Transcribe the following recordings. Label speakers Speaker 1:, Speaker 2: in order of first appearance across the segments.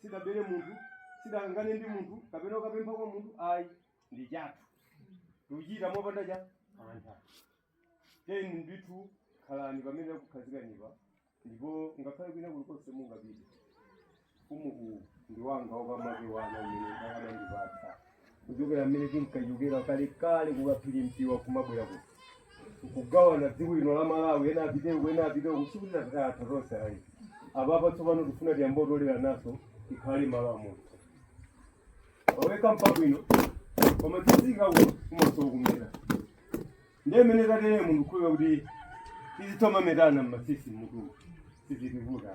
Speaker 1: sidabere munthu sidakangane ndi munthu kapena ukapempha kwa munthu ayi ndi chathu tikuchita mopanda mantha teni ndithu khalani pamene akukhazikanipo ndipo ngakhale kwina kulikonse mungapite umboni ndi wanga wakamake wana umene ndakadandipatsa kuchokera mmene tinkachokera kale kale ku Kaphirintiwa kumabwera ku kugawana dziko lino la malawi ena apiteko ena apiteko sikuti athu tonse ayi apapa tsopano tifuna tiyamba kutolera naso tikhale malo amodzi waweka mpabwino koma tizika ku kumasowa kumeta ndiye mmene tatere munthu khulira kuti tizitomametana m'matsitsi mutu sizitivuta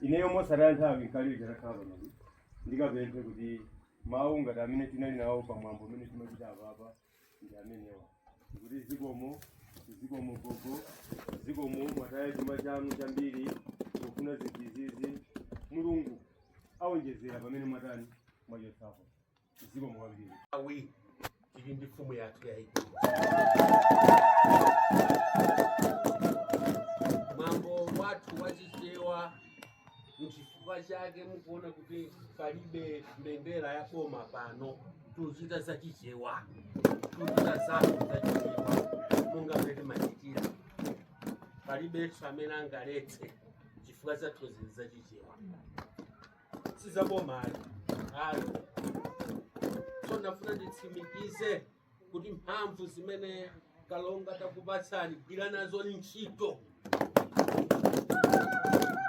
Speaker 1: ineyo mosataya nthawi nkaliyo chatakhala pano ndikapemphe kuti mawu ngati amene tinali nawo pa mwambo umene timachita apapa ndi amenewa kuti zikomo zikomo gogo zikomo mwataya chuma chanu chambiri kufuna zinthu zizi mulungu awonjezera pamene mwatani mwachotsapo zikomo kwambiri awi Ili ndi mfumu yathu yayikulu. Mwambo wathu wa Chichewa n'chifukwa chake mukuona kuti palibe mbendera ya boma pano. Tuchita za Chichewa, tuchita zathu za Chichewa monga mmene timachitira. Palibenso amene angaletse chifukwa zathu zizi za Chichewa. sizaboma ayi ayi so ndafuna nditsimikize kuti mphamvu zimene kalonga takupatsani gwira nazo ni ntchito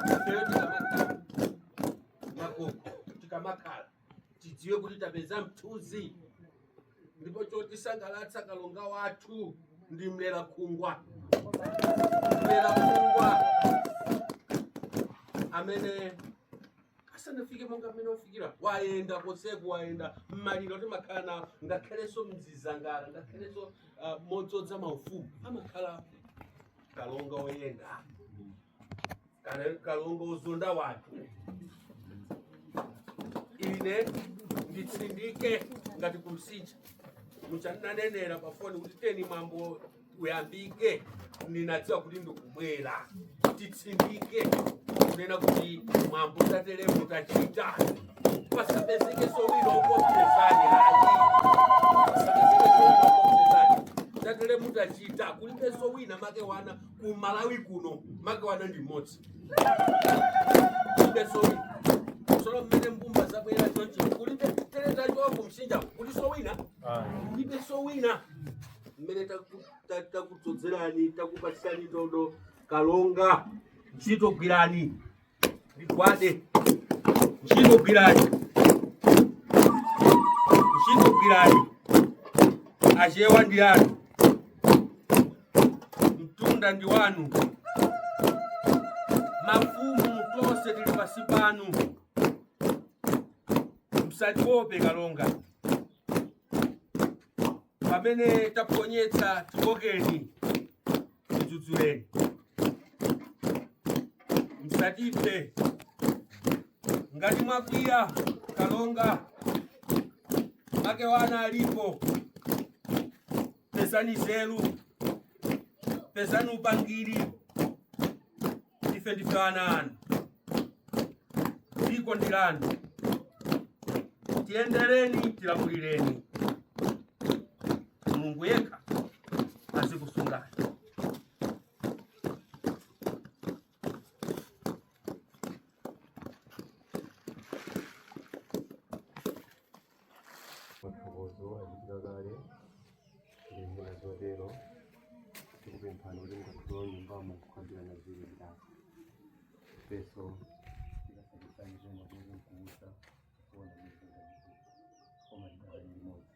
Speaker 1: ifeyo tikamakhala makoko tikamakhala tidziwe kuti tapeza mthunzi ndipo chotisangalatsa kalonga wathu ndi mlera khungwa mlera khungwa mmene asanafike monga mmene wafikira wayenda konseku wayenda mmaliro timakhala nawo ngakhalenso m'zisangalalo ngakhalenso uh, modzodza maufumu amakhala kalonga oyenda Kale kalonga Sosola wathu ine nditsindike ngati kumsinja mutandinenera pafoni kuti teni mwambo uyambike ninadziwa kuti ndikubwera titsindike kunena kuti mwambo tatelemu tachita pasapezekenso wina wokuchotsani ayi pasapezeke sowino ukochezani tatelemo tachita kulibenso wina make wana ku malawi kuno ma Gawa Undi ndi mmodzi kulibenso wina tsono mmene mbumba zabwera choncho kulibe tereza chofu msinja kulinso wina kulibenso wina mmene taku- ta- takudzodzerani takupatsirani ndodo kalonga ntchito gwirani gwirani ntchito gwirani ntchito gwirani achewa ndi anu mtunda ndi wanu mafumu tonse tili pasi panu msatiope kalonga pamene taponyetsa tikokeni mdzudzuleni msatiphe ngati mwakwiya kalonga make wana alipo pezani zelu pezani upangiri ife ndife ana anu dziko ndi lanu tiyendereni tilamulireni mulungu yekha azikusungani mathokozo achitika kale ndi zina zotero tikupemphani kuti mukalowa m'nyumbamo kukambirana ziri ndako peso tikasakisani zomwe kuti mkuusa kuona mizinga koma ndakali limodzi